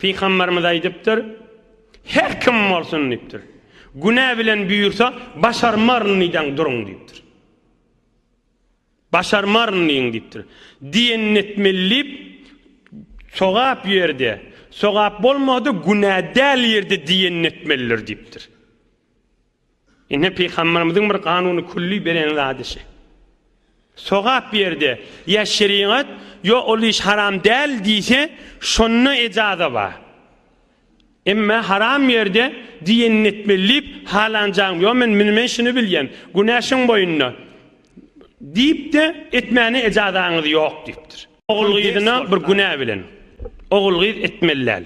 Pygamberimiz aýdypdyr, Her kim bolsun diýipdir, günä bilen buýursa, başarmaryn diýdäň duruň diýipdir. Başarmaryn diýiň diýipdir. Diýenini etmeli diýip, sogap ýerde, sogap bolmady, günä däl ýerde diýenini etmelidir diýipdir. Ine Pygamberimiziň bir ganuny külli beren zady şi. Sogap ýerde ýa şerigat ýo ol iş haram däl diýse şonda ejaza bar. Emme haram ýerde diýenini etmeli diýip halanjaň ýo men mini men şini bilýän günä şiň boýunda diýip de etmäne ejazaňyz ýok diýipdir. Ogul-gyzyna bir günä bilen. Ogul-gyz etmeli däl.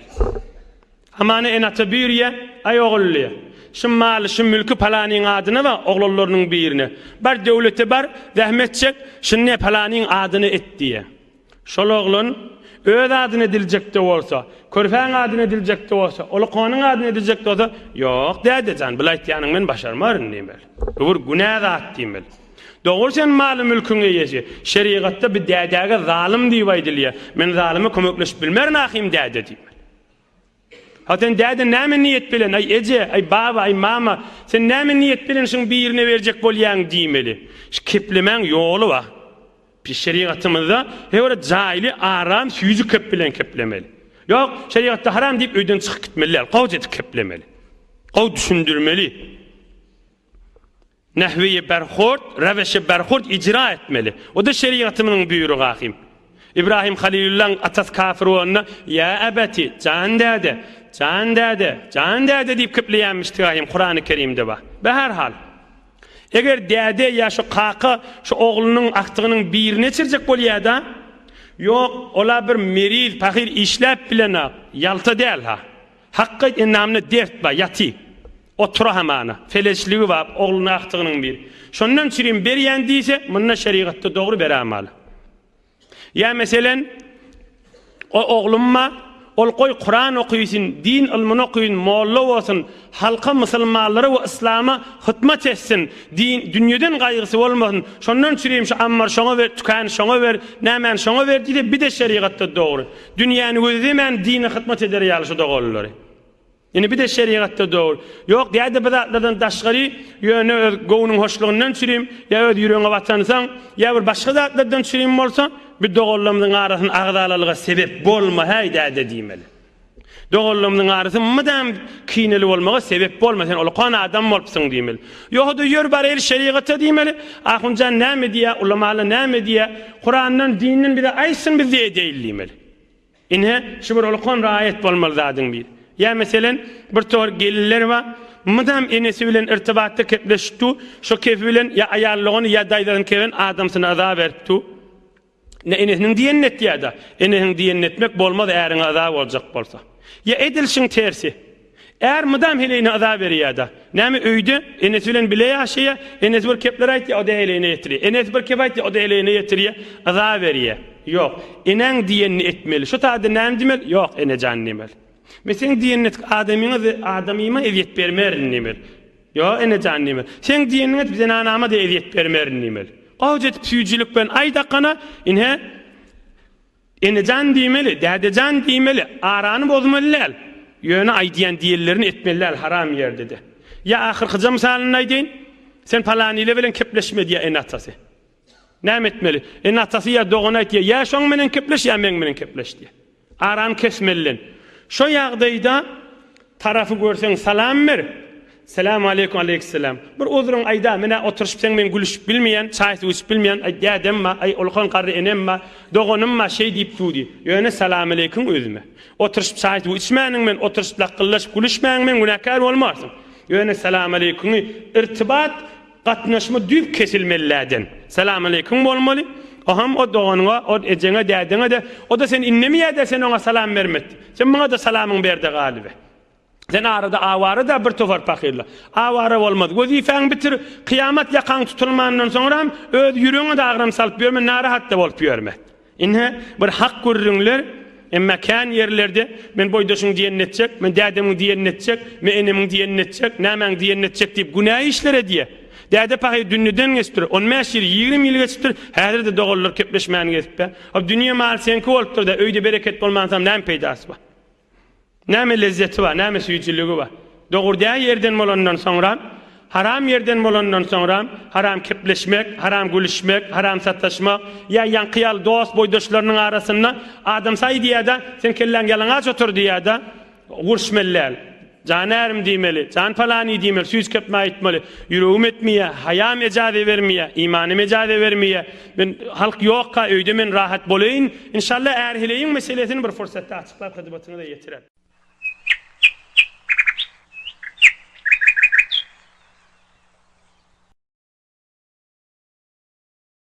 Hamana en-ata buyurýa, Aý ogully, şu maly, şu mülki palanyň adyna we oglanlarynyň birine, bar döwlete bar, zähmet çek, şuny ne palanyň adyna et diýýä. Şol oglan öz adyna ediljek-de bolsa, körpäň adyna ediljek-de bolsa, uly konyň adyna ediljek-de bolsa, Ýok, däde jan, bulaýtýanyňy men başarmaryn diýmeli. Bu bir günä zat diýmeli. Dogry sen maly mülküň eýesi. Şerigatda bi dädäge zalym diýip aýdylýa. Men zalyma kömekleşip bilmerin ahym däde diýmeli. Ha sen däde näme niýet bilen aý eje, aý baba, aý mama, sen näme niýet bilen şuň birine berjek bolýaň diýmeli. Şu keplemäň ýoly bar. Biz şerigatymyzda he bir jaýly aram süýji kep bilen keplemeli. Ýok, şerigatda haram diýip öýden çykyp gitmeli däl. Gowja edip keplemeli. Gowy düşündirmeli. Nahwiýi berhord, raweşi berhord ijra etmeli. O-da şerigatymyzyň buýrugy ahim. Ibrahim Halilullaň atasy kafir bolanda, Ýa abati, jan däde, jan däde, jan däde diýip kepleýänmişdigi ahim Kurany Kerimde bar. Be her hal. Eger däde ýa şu kaka şu oglunyň agtygynyň birini eçirjek bolýada, ýok, ol-a bir meriz, pahyr işläp bilenok, ýalta däl-ha. Hakga endamynda dert bar, ýaty. Otura hamana, feleçligi bap, ogluna agtygynyň bir. Şondan çirim berýän diýse, munda şerigatda dogry berämaly. Ýa meselen, O oglumma, ol goý Kuran okysyn, din ylmyny okysyn, molla bolsun, halka, musulmanlara we yslama hytmat etsin, din, dünýeden gaýgysy bolmasyn, şondan çirim şu ammar şoňa ber, tükän şoňa ber, nämäni şoňa ber diýse, bide şerigatda dogry. Dünýäni gözlemän dine hytmat eder ýaly şu doganlary. Indi bir-de şerigatda dogul. Ýok, däde bu zatlardan daşgary, ýöne öz göwnüň hoşlugyndan çürim, ýa öz ýüregiňe watansoň, ýa bir başga zatlardan çürim bolsa, bu doganlarymyzyň arasyn agzalalyga sebep bolma, häý, däde diýmeli. Doganlarymyzyň arasy mydam kineli bolmaga sebep bolma, sen ulukan adam bolupsyň diýmeli. Ýoga-da ýör baraýyl şerigata diýmeli, ahunjan näme diýýär, ulamalar näme diýýär, Kurandan, dinden bize aýtsyn, biz-de edeýil diýmeli. Ine, şu bir ulkan raýat bolmaly zadyň biri. Ýa meselen, bir tor gelinler bar, mydam enesi bilen irtibatda kepleşip dur, şo kepi bilen ýa aýallygyn, ýa daýzasyn keben adamsyny yza berip dur. Ine, enesiniň diýenini et ýa-da, enesiň diýenini etmek bolmaz äriňe yza boljak bolsa. Ýa edil şuň tersi. Är mydam heleýine yza berýär-de. Näme, öýde enesi bilen bile ýaşaýar. Enesi bir kepler aýtýar, o-da heleýine ýetirýär. Enesi bir kep aýtýar, o-da heleýine ýetirýär. Yza berýär. Ýok. Enäň diýenini etmeli. Şu taýda näme diýmeli? Ýok, ene jan diýmeli. Men seň diýeniňi etip, adamyňa-da, adamyma ezýet bermerin diýmeli. Ýok, ene jan diýmeli. Seň diýeniňi edip, zenanama-da ezýet bermerin diýmeli. Gowuja edip süýjülik bilen aýt Akana, Ine, Enejan diýmeli, dädejan diýmeli, arany bozmaly däl. Ýöne aýdýan diýenlerini etmeli däl haram ýerde-de. Ýa ahyrkyja mysalynda aýdaýyn, Sen palanyýle bilen kepleşme diýýär ene-atasy. Näme etmeli? Ene-atasy ýa dogany aýtýar, Ýa şoň menen kepleş, ýa meň menen kepleş diýýär. Arany kesmeli. Şo ýagdaýda Tarapy görseň salam ber. Salam aleýkum aleýkissalam. Bir uzryň aýda men a oturyşyp seň bilen gülüşip bilmeýän, çaý suw içip bilmeýän aý dädem ba aý ulkan garry enem ba doganym ba şeý diýip dudy. Ýöne salam aleýkum özüme. Oturyşyp çaý suw içmäniň men oturyşyp lakgyldaşyp gülüşmäň men günäkär bolmarsyň. Ýöne salam aleýkumy irtibat Gatnaşma düýp kesilmeliläden. Salamaleykum bolmaly. Oham o doganyňa, o ejeňe, dädeňe-de, o-da seni innemeyä-dä sen oňa salam bermekde. Sen muňa-da salamyňy ber-de galyber. Sen arada awara-da bir topar pahyrla. Awara bolmaz. Wezipäňi bitir. Kyýamat ýakaň tutulmandan soňram öz ýüregiňe-de agram salyp ýörme, narahat-da bolup ýörme. Ine, bir hak gürrüňler, emma kän ýerlerde men boýdaşyň diýenini etjek, men dädemiň diýenini etjek, men enemiň diýenini etjek, nämäň diýenini etjek diýip günä işler edýär. Däde pahyr dünnüden geçipdir, on bäş ýyl, ýigrimi ýyl geçipdir, häzir-de doganlar kepleşmän gezipdä. Hop, dünýe maly seňki bolupdyr-da, öýde bereket bolmansam näme peýdasy bar? Näme lezzeti bar, näme süýjüligi bar? Dogry-dä ýerden bolandan soňram, haram ýerden bolandan soňram, haram kepleşmek, haram gülüşmek, haram sataşmak, ýa ýaňky ýaly dost, boýdaşlarynyň arasynda, Adamsaý diýýär-de, Seň kelläň ýalaňaç otur diýýär-de, gurşmelläl. Janärim diýmeli, jan palany diýmeli, süýt kepme aýtmaly. Ýüregim etmeýä, haýam ejaze bermeýä, imanym ejaze bermeýä. Men, halk ýokka öýde men rahat bolaýyn. Inşalla är heleýiň meselesini bir pursatda açyklap hyzmatyňyza ýetirer.